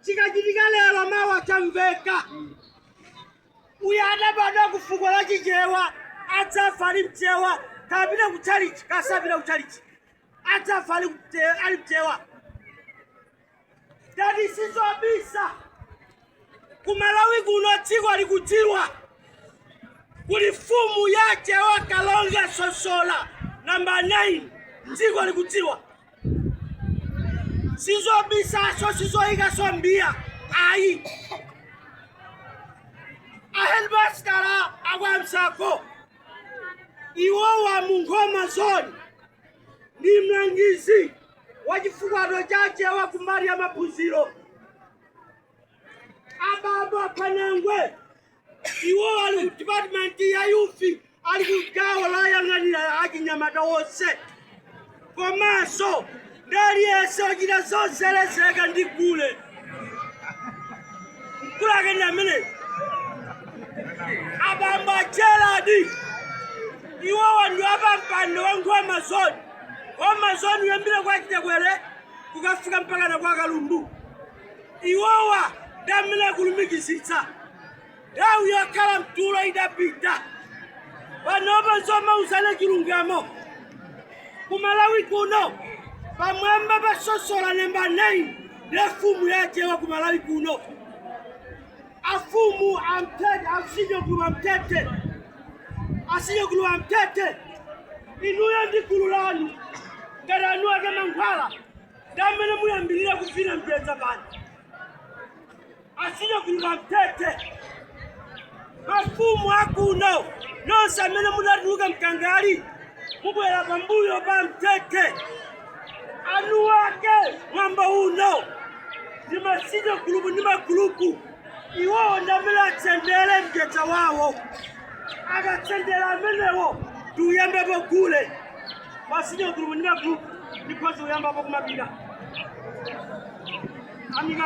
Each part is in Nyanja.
chikachitika lero mawa chamveka uyu adabadwa ku fuko la chichewa adzafa ali mchewa kapita ku chalichi kasapita ku chalichi adzafa ali mte- ali mchewa tati sizobisa ku malawi kuno dziko likudziwa kuli fumu ya chewa kalonga sosola namba 9 dziko likudziwa sizobisaso sizoyikaso m'mbiya ayi ahedimasitala akwamsako iwowa munkhoma zone ndi mlangizi wa chifukwato cha chewa kumbali ya maphunziro ababa panangwe Iwowa ali ku dipatimenti ya youth, ali ku gawo loyang'anira achinyamata onse, komanso ndi aliyense ochita zozelezeka ndi gule. Mkulu ake ndi amene abambo a Gerald iwowa ndi apampando wa nkhoma zone nkhoma zone kuyambira kwa chitekwere kukafika mpakana kwa kalundu iwowa ndi amene akulumikizitsa nthawi yokhala mtulo idapita panopa zomauzana chilungamo kumalawi kuno pamwamba pa sosola namba 9 nde fumu yachewa kumalawi kuno afumu amtete asinyo gulupu amtete asinyo gulupu amtete inuyo ndi gulu lanu ngati anu ake mankhwala ndamene muyambirira kuvina mjedza pano asinyo gulupu amtete mafumu akuno nonse amene munatuluka mkangali mubwera pambuyo pa mtete anu wake mwambo uno ndi masinyo gulupu ndi magulupu iwowo ndamene atsendere mjedza wawo akatsendera amenewo tiuyambepo gule Masinyo group ndi ma group ndikhoza kuyambapo kumapita. Amika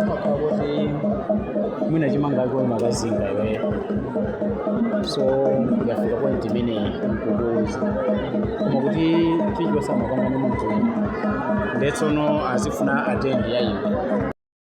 umakhala kuti mwina chimanga ake umakazinga iwe so yafika point imene mkukuuza koma kuti chilichonse amakamba ndi munthu ndetsono azifuna attention ya iwe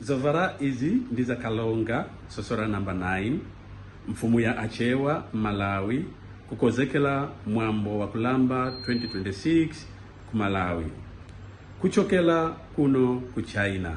Zovala izi ndi za Kalonga Sosola number 9 mfumu ya Achewa m'Malawi kukozekela mwambo wa kulamba 2026 ku Malawi kuchokela kuno ku China.